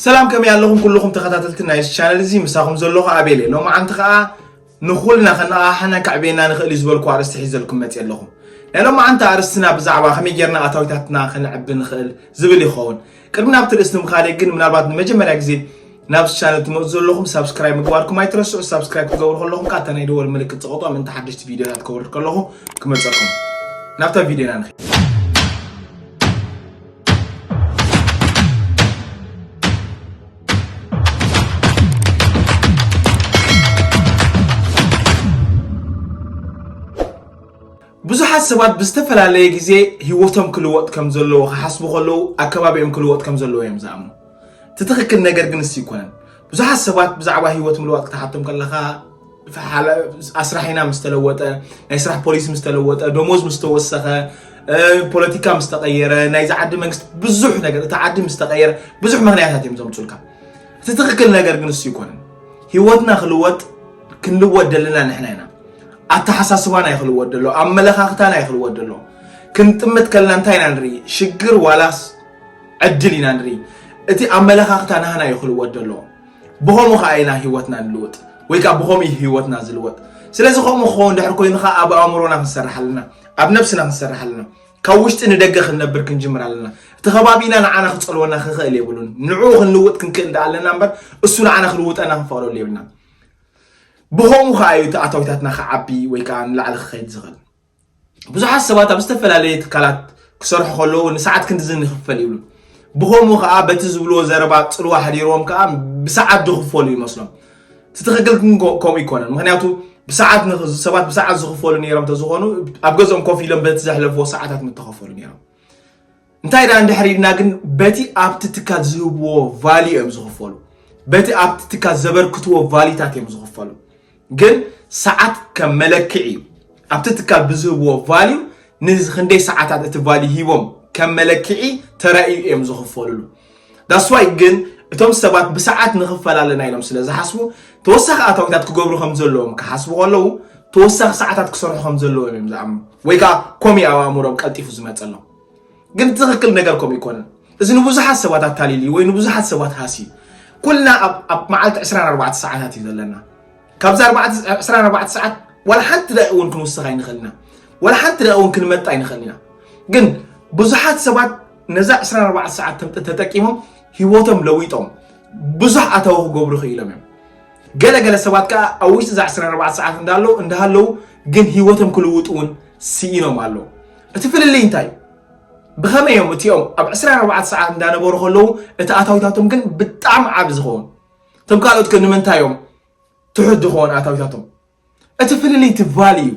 ሰላም ከመይ ኣለኹም ኩሉኹም ተኸታተልቲ ናይ እዚ ቻነል እዚ ምሳኹም ዘለኹ ኣቤል እየ ሎማዓንቲ ከዓ ንኹልና ከነቓሓናን ከዕብየና ንኽእል እዩ ዝበልኩ ኣርእስቲ ሒዘልኩም መፅ ኣለኹም ናይ ሎማዓንቲ ኣርእስትና ብዛዕባ ከመይ ጌርና ኣታዊታትና ከነዕቢ ንኽእል ዝብል ይኸውን ቅድሚ ናብቲ ርእስቲ ምኻደይ ግን ምናልባት ንመጀመርያ ግዜ ናብ እዚ ቻነል ትመፁ ዘለኹም ሳብስክራይብ ምግባርኩም ኣይትረስዑ ሳብስክራይብ ክትገብሩ ከለኹም ከዓ እታ ናይ ደወል ምልክት ፀቕጦ ምእንቲ ሓደሽቲ ቪድዮታት ከወርድ ከለኹ ክመፀኩም ናብታ ቪድዮና ንኸ ብዙሓት ሰባት ብዝተፈላለየ ግዜ ህይወቶም ክልወጥ ከም ዘለዎ ክሓስቡ ከለዉ ኣከባቢኦም ክልወጥ ከም ዘለዎ እዮም ዝኣምኑ እቲ ትኽክል ነገር ግን እሱ ይኮነን ብዙሓት ሰባት ብዛዕባ ሂወት ምልዋጥ ክትሓቶም ከለኻ ኣስራሒና ምስ ተለወጠ ናይ ስራሕ ፖሊሲ ምስ ተለወጠ ደሞዝ ምስ ተወሰኸ ፖለቲካ ምስ ተቐየረ ናይዚ ዓዲ መንግስቲ ብዙሕ ነገር እቲ ዓዲ ምስ ተቐየረ ብዙሕ ምክንያታት እዮም ዘምፁልካ እቲ ትኽክል ነገር ግን እሱ ይኮነን ሂወትና ክልወጥ ክንልወጥ ደለና ንሕና ኢና ኣተሓሳስባና እዩ ክልወጥ ደሎ ኣመለኻኽታና እዩ ክልወጥ ደሎ ክንጥምት ከለና እንታይ ኢና ንርኢ ሽግር ዋላስ ዕድል ኢና ንርኢ እቲ ኣመለኻኽታ ናህና እዩ ክልወጥ ደሎ ብኸምኡ ከዓ ኢና ህይወትና ንልውጥ ወይ ከዓ ብኸምኡ እዩ ህይወትና ዝልወጥ ስለዚ ከምኡ ክኸውን ድሕር ኮይኑ ከዓ ኣብ ኣእምሮና ክንሰርሕ ኣለና ኣብ ነብስና ክንሰርሕ ኣለና ካብ ውሽጢ ንደገ ክንነብር ክንጅምር ኣለና እቲ ከባቢና ንዓና ክፀልወና ክኽእል የብሉን ንዕኡ ክንልውጥ ክንክእል ዳ ኣለና እምበር እሱ ንዓና ክልውጠና ክንፈቕደሉ የብልና ብኸምኡ ከዓ እዩ እቲ ኣታዊታትና ክዓቢ ወይ ከዓ ንላዕሊ ክኸይድ ዝኽእል ብዙሓት ሰባት ኣብ ዝተፈላለየ ትካላት ክሰርሑ ከለዉ ንሰዓት ክንድዚ ንኽፈል ይብሉ ብኸምኡ ከዓ በቲ ዝብልዎ ዘረባ ፅልዋ ሓዲርዎም ከዓ ብሰዓት ዝኽፈሉ ይመስሎም እቲ ትኽክል ግን ከምኡ ይኮነን ምክንያቱ ብሰዓት ሰባት ብሰዓት ዝኽፈሉ ነይሮም ተዝኾኑ ኣብ ገዝኦም ኮፍ ኢሎም በቲ ዘሕለፍዎ ሰዓታት ምተኸፈሉ ነይሮም እንታይ ደኣ እንድሕር ኢልና ግን በቲ ኣብቲ ትካል ዝህብዎ ቫልዩ እዮም ዝኽፈሉ በቲ ኣብቲ ትካል ዘበርክትዎ ቫልዩታት እዮም ዝኽፈሉ ግን ሰዓት ከም መለክዒ እዩ ኣብቲ ትካል ብዝህብዎ ቫልዩ ንክንደይ ሰዓታት እቲ ቫልዩ ሂቦም ከም መለክዒ ተራእዩ እዮም ዝኽፈልሉ ዳስዋይ ግን እቶም ሰባት ብሰዓት ንኽፈል ኣለና ኢሎም ስለ ዝሓስቡ ተወሳኺ ኣታዊታት ክገብሩ ከም ዘለዎም ክሓስቡ ከለዉ ተወሳኺ ሰዓታት ክሰርሑ ከም ዘለዎም እዮም ዝኣምኑ ወይ ከዓ ኮሚ ኣብ ኣእምሮም ቀልጢፉ ዝመፀሎም ግን ትኽክል ነገር ከምኡ ኣይኮነን እዚ ንብዙሓት ሰባት ኣታሊል እዩ ወይ ንብዙሓት ሰባት ሃሲ እዩ ኩልና ኣብ መዓልቲ 24 ሰዓታት እዩ ዘለና ካብዛ 24 ሰዓት ዋላ ሓንቲ ዳኢ እውን ክንውስኽ ኣይንኽእል ኢና ዋላ ሓንቲ ዳኢ እውን ክንመጣ ኣይንኽእል ኢና ግን ብዙሓት ሰባት ነዛ 24 ሰዓት ተጠቂሞም ሂወቶም ለዊጦም ብዙሕ ኣታዊ ክገብሩ ክኢሎም እዮም ገለገለ ሰባት ከዓ ኣብ ውሽጢ እዛ 24 ሰዓት እንዳሃለዉ ግን ሂወቶም ክልውጡ እውን ስኢኖም ኣለዉ እቲ ፍልልይ እንታይ እዩ? ብኸመይ እዮም እቲኦም ኣብ 24 ሰዓት እንዳነበሩ ከለዉ እቲ ኣታዊታቶም ግን ብጣዕሚ ዓብ ዝኸውን እቶም ካልኦት ግን ንምንታይ እዮም ትሑት ዝኸውን ኣታዊታቶም? እቲ ፍልልይ እቲ ቫሊ እዩ።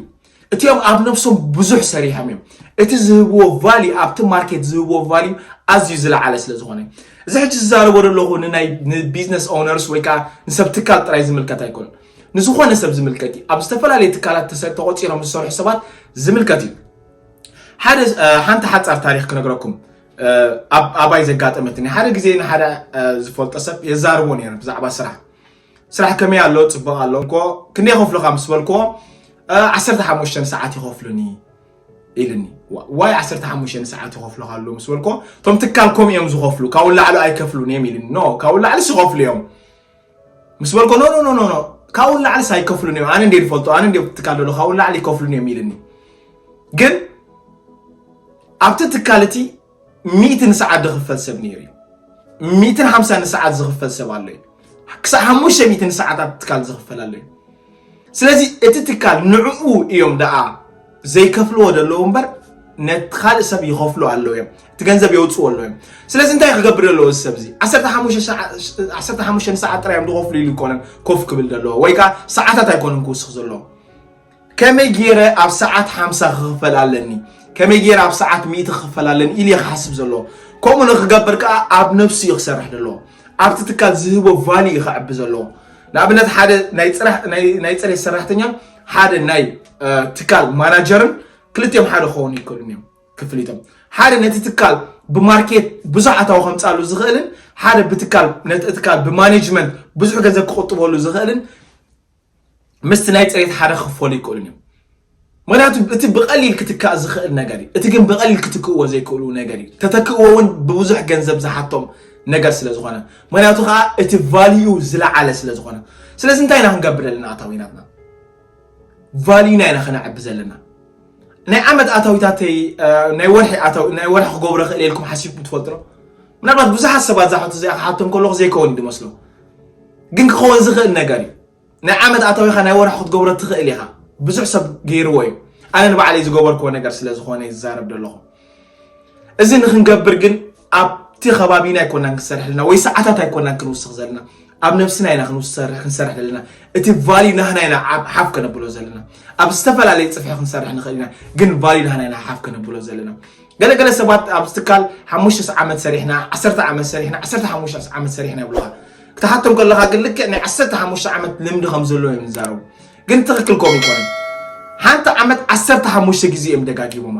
እቲኦም ኣብ ነብሶም ብዙሕ ሰሪሖም እዮም። እቲ ዝህብዎ ቫሊ ኣብቲ ማርኬት ዝህብዎ ቫሊ ኣዝዩ ዝለዓለ ስለ ዝኾነ እዚ ሕጂ ዝዛረቦ ዘለኹ ንናይ ንቢዝነስ ኦነርስ ወይ ከዓ ንሰብ ትካል ጥራይ ዝምልከት ኣይኮነን። ንዝኾነ ሰብ ዝምልከት እዩ። ኣብ ዝተፈላለየ ትካላት ተቖፂሮም ዝሰርሑ ሰባት ዝምልከት እዩ። ሓደ ሓንቲ ሓፃር ታሪክ ክነግረኩም ኣብ ኣባይ ዘጋጠመትኒ ሓደ ግዜ ንሓደ ዝፈልጦ ሰብ የዛርቦ ነይረ ብዛዕባ ስራሕ ስራሕ ከመይ ኣሎ ፅቡቅ ኣሎ እንኮ ክንደይ ከፍሉካ ምስ በልክዎ 15 ሰዓት ይኸፍሉኒ ኢልኒ ዋይ 15 ሰዓት ይኸፍሉካ ኣሎ ምስ በልክዎ እቶም ትካል ከምኡ እዮም ዝኸፍሉ ካብኡ ላዕሉ ኣይከፍሉን እዮም ኢልኒ ኖ ካብኡ ላዕልስ ይኸፍሉ እዮም ምስ በልኮ ኖኖኖኖ ካብኡ ንላዕሊስ ኣይከፍሉን እዮም ኣነ እንዴ ዝፈልጦ ኣነ እንዴ ትካል ዘሎ ካብኡ ንላዕሊ ይከፍሉን እዮም ኢልኒ ግን ኣብቲ ትካል እቲ ሚእቲ ንሰዓት ዝኽፈል ሰብ ነይሩ እዩ ሚእትን ሓምሳ ንሰዓት ዝኽፈል ሰብ ኣሎ እዩ ክሳብ ሓሙሽተ ሚእቲ ንሰዓት ኣብ ትካል ዝኽፈል ኣሎ እዩ ስለዚ እቲ ትካል ንዕኡ እዮም ደኣ ዘይከፍልዎ ዘለዉ እምበር ነቲ ካልእ ሰብ ይኸፍሉ ኣለዉ እዮም እቲ ገንዘብ የውፅዎ ኣለዉ እዮም ስለዚ እንታይ ክገብር ዘለዎ እዚ ሰብ እዚ ዓሰርተ ሓሙሽተ ሰዓት ጥራይ እዮም ዝኸፍሉ ኢሉ ይኮነን ኮፍ ክብል ዘለዎ ወይ ከዓ ሰዓታት ኣይኮነን ክውስኽ ዘለዎ ከመይ ገይረ ኣብ ሰዓት ሓምሳ ክኽፈል ኣለኒ ከመይ ገይረ ኣብ ሰዓት ሚእቲ ክኽፈል ኣለኒ ኢሉ ክሓስብ ዘለዎ ከምኡ ንክገብር ከዓ ኣብ ነብሱ እዩ ክሰርሕ ዘለዎ ኣብቲ ትካል ዝህቦ ቫልዩ እዩ ከዕቢ ዘለዎ ንኣብነት ሓደ ናይ ፅሬት ሰራሕተኛን ሓደ ናይ ትካል ማናጀርን ክልቲኦም ሓደ ክኾኑ ይክእሉን እዮም ክፍሊቶም ሓደ ነቲ ትካል ብማርኬት ብዙሕ ኣታዊ ከምፃሉ ዝኽእልን ሓደ ብትካል ነቲ ትካል ብማኔጅመንት ብዙሕ ገንዘብ ክቁጥበሉ ዝኽእልን ምስቲ ናይ ፅሬት ሓደ ክክፈሉ ይክእሉን እዮም ምክንያቱ እቲ ብቀሊል ክትካእ ዝኽእል ነገር እዩ እቲ ግን ብቀሊል ክትክእዎ ዘይክእሉ ነገር እዩ ተተክእዎ እውን ብብዙሕ ገንዘብ ዝሓቶም ነገር ስለ ዝኾነ ምክንያቱ ከዓ እቲ ቫልዩ ዝለዓለ ስለ ዝኾነ ስለዚ እንታይ ኢና ክንገብር ዘለና ኣታዊናትና ቫልዩና ኢና ከነዕቢ ዘለና ናይ ዓመት ኣታዊታተይ ናይ ወርሒ ናይ ወርሒ ክገብሮ ክእል ኢልኩም ሓሲብኩም ትፈልጡ ዶ ምናልባት ብዙሓት ሰባት ዝሓቱ እዚኣ ክሓቶም ከለኹ ዘይከውን እዩ ዝመስሎም ግን ክኸውን ዝኽእል ነገር እዩ ናይ ዓመት ኣታዊኻ ናይ ወርሒ ክትገብሮ ትኽእል ኢኻ ብዙሕ ሰብ ገይርዎ እዩ ኣነ ንባዕለይ ዝገበርክዎ ነገር ስለ ዝኾነ እዩ ዝዛረብ ዘለኹ እዚ ንክንገብር ግን ኣብቲ ከባቢና ኣይኮናን ክንሰርሕ ዘለና ወይ ሰዓታት ኣይኮናን ክንውስኽ ዘለና ኣብ ነብስና ኢና ክንሰርሕ ክንሰርሕ ዘለና እቲ ቫልዩ ናህና ኢና ሓፍ ከነብሎ ዘለና ኣብ ዝተፈላለዩ ፅፍሒ ክንሰርሕ ንኽእል ኢና ግን ቫልዩ ናህና ኢና ሓፍ ከነብሎ ዘለና ገለ ገለ ሰባት ኣብዚ ትካል ሓሙሽተ ዓመት ሰሪሕና፣ ዓሰርተ ዓመት ሰሪሕና፣ ዓሰርተ ሓሙሽተ ዓመት ሰሪሕና ይብሉኻ። ክትሓቶም ከለኻ ግን ልክዕ ናይ ዓሰርተ ሓሙሽተ ዓመት ልምዲ ከም ዘለዎ እዮም ዝዛረቡ። ግን ትኽክል ከምኡ ኣይኮነን። ሓንቲ ዓመት ዓሰርተ ሓሙሽተ ግዜ እዮም ደጋጊሞማ።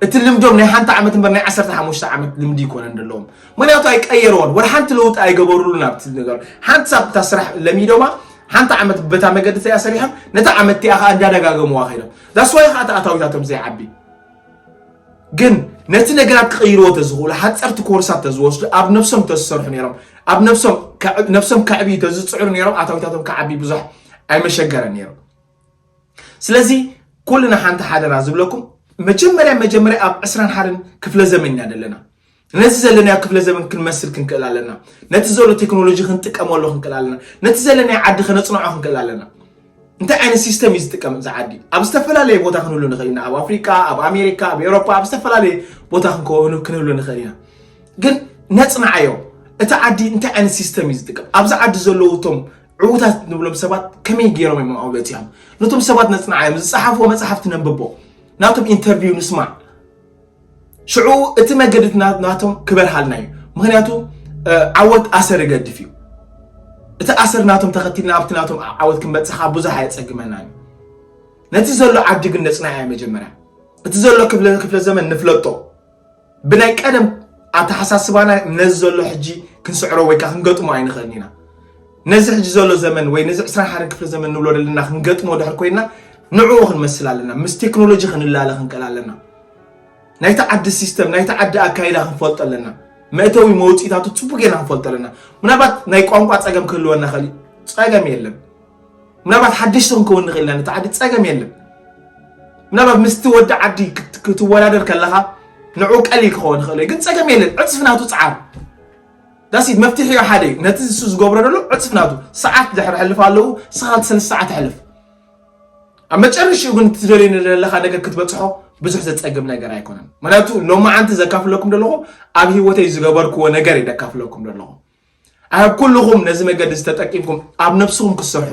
እቲ ልምዶም ናይ ሓንቲ ዓመት እምበር ናይ ዓሰርተ ሓሙሽተ ዓመት ልምዲ ይኮነን ዘለዎም። ምክንያቱ ኣይቀየርዎን፣ ወላ ሓንቲ ለውጢ ኣይገበሩሉን ኣብቲ ነገር። ሓንቲ ሳብ እታ ስራሕ ለሚዶማ ሓንቲ ዓመት በታ መገዲ እቲኣ ሰሪሖም ነታ ዓመት እቲኣ ከዓ እንዳደጋገምዋ ከይዶም ዛስዋይ ከዓ ተኣታዊታቶም ዘይዓቢ ግን ነቲ ነገራት ክቕይርዎ ተዝኽእሉ ሓፀርቲ ኮርሳት ተዝወስዱ ኣብ ነብሶም ተዝሰርሑ ነይሮም ኣብ ነብሶም ነብሶም ከዕብዩ ተዝፅዕሩ ነይሮም ኣታዊታቶም ክዓቢ ብዙሕ ኣይመሸገረ ነይሩ ስለዚ ኩልና ሓንቲ ሓደራ ዝብለኩም መጀመርያ መጀመርያ ኣብ ዕስራን ሓደን ክፍለ ዘመን ኢና ዘለና ነዚ ዘለናዮ ክፍለ ዘበን ክንመስል ክንክእል ኣለና ነቲ ዘሎ ቴክኖሎጂ ክንጥቀመሉ ክንክእል ኣለና ነቲ ዘለናዮ ዓዲ ከነፅንዖ ክንክእል ኣለና እንታይ ዓይነት ሲስተም እዩ ዝጥቀም እዚ ዓዲ ኣብ ዝተፈላለየ ቦታ ክንህሉ ንኽእል ኢና ኣብ ኣፍሪካ ኣብ ኣሜሪካ ኣብ ኤሮፓ ኣብ ዝተፈላለየ ቦታ ክንህሉ ንኽእል ኢና ግን ነፅንዓዮ እቲ ዓዲ እንታይ ዓይነት ሲስተም እዩ ዝጥቀም ኣብዚ ዓዲ ዘለዉ እቶም ዕዉታት ንብሎም ሰባት ከመይ ገይሮም እዮም ኣውለት እዮም ነቶም ሰባት ነፅንዓዮም ዝፀሓፍዎ መፅሓፍቲ ነንብቦ ናቶም ኢንተርቪው ንስማዕ ሽዑ እቲ መገዲ ናቶም ክበርሃልና እዩ ምክንያቱ ዓወት ኣሰር ይገድፍ እዩ እቲ ኣሰር ናቶም ተኸቲልና ኣብቲ ናቶም ዓወት ክንበፅሕ ካብ ብዙሕ ኣየፀግመናን እዩ ነቲ ዘሎ ዓዲ ግን ነፅናያ መጀመርያ እቲ ዘሎ ክፍለ ዘመን ንፍለጦ ብናይ ቀደም ኣተሓሳስባና ነዚ ዘሎ ሕጂ ክንስዕሮ ወይከዓ ክንገጥሞ ኣይንኽእልን ኢና ነዚ ሕጂ ዘሎ ዘመን ወይ ነዚ 21 ክፍለ ዘመን ንብሎ ዘለና ክንገጥሞ ድሕር ኮይና ንዕኡ ክንመስል ኣለና ምስ ቴክኖሎጂ ክንላለ ክንቀል ኣለና ናይቲ ዓዲ ሲስተም ናይቲ ዓዲ ኣካይዳ ክንፈልጦ ኣለና መእተዊ መውፅኢታቱ ፅቡቅ ጌና ክንፈልጦ ኣለና ምናልባት ናይ ቋንቋ ፀገም ክህልወና ኸእል ፀገም የለን ምናልባት ሓደሽቲ ክንከውን ንኽእል ኢና ነቲ ዓዲ ፀገም የለን ምናልባት ምስቲ ወዲ ዓዲ ክትወዳደር ከለኻ ንዕኡ ቀሊል ክኸውን ይኽእል ግን ፀገም የለን ዕፅፍናቱ ፀዓር That's it መፍትሒኡ ሓደ እዩ ነቲ ንሱ ዝገብሮ ዘሎ ዕፅፍ ናቱ ሰዓት ድሕሪ ሕልፍ ኣለዉ ንስኻ እቲ ሰለስተ ሰዓት ኣሕልፍ ኣብ መጨረሽኡ ግን እትደልዩ ንደለኻ ነገር ክትበፅሖ ብዙሕ ዘፀግም ነገር ኣይኮነን ምክንያቱ ሎማዓንቲ ዘካፍለኩም ደለኹ ኣብ ሂወተይ ዝገበርክዎ ነገር እዩ ዘካፍለኩም ደለኹ ኣብ ኩልኹም ነዚ መገዲ ዝተጠቂምኩም ኣብ ነብስኹም ክትሰርሑ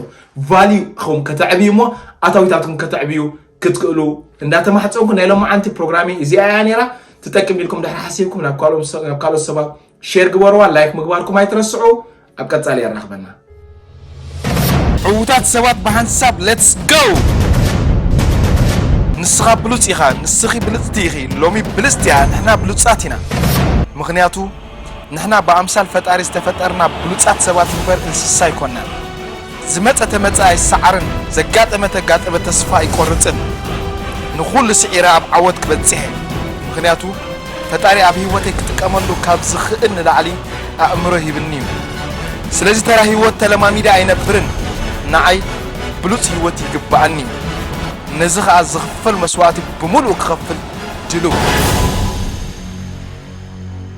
ቫልዩ ኹም ከተዕብዩ እሞ ኣታዊታትኩም ከተዕብዩ ክትክእሉ እንዳተማሕፀንኩ ናይ ሎማዓንቲ ፕሮግራሚ እዚኣ እያ ነይራ ትጠቅም ኢልኩም ድሕሪ ሓሲብኩም ናብ ካልኦት ሰባት ሼር ግበርዋ ላይክ ምግባርኩም ኣይትረስዑ ኣብ ቀጻሊ የራኽበና ዕውታት ሰባት ብሓንሳብ ሌትስ ጎ ንስኻ ብሉፅ ኢኻ ንስኺ ብልፅቲ ኢኺ ሎሚ ብልፅቲ እያ ንሕና ብሉፃት ኢና ምኽንያቱ ንሕና ብኣምሳል ፈጣሪ ዝተፈጠርና ብሉፃት ሰባት እምበር እንስሳ ኣይኮናን ዝመጸ ተመጸ ኣይሰዓርን ዘጋጠመ ተጋጠመ ተስፋ ኣይቆርጽን ንኹሉ ስዒረ ኣብ ዓወት ክበጽሕ እየ ምኽንያቱ ፈጣሪ ኣብ ሂወተይ ክጥቀመሉ ካብ ዝኽእል ንላዕሊ ኣእምሮ ሂብኒ እዩ ስለዚ ተራ ሂወት ተለማሚደ ኣይነብርን ንዓይ ብሉጽ ሂወት ይግበኣኒ እዩ ነዚ ከኣ ዝኽፈል መስዋእቲ ብምሉኡ ክኸፍል ድልው እየ።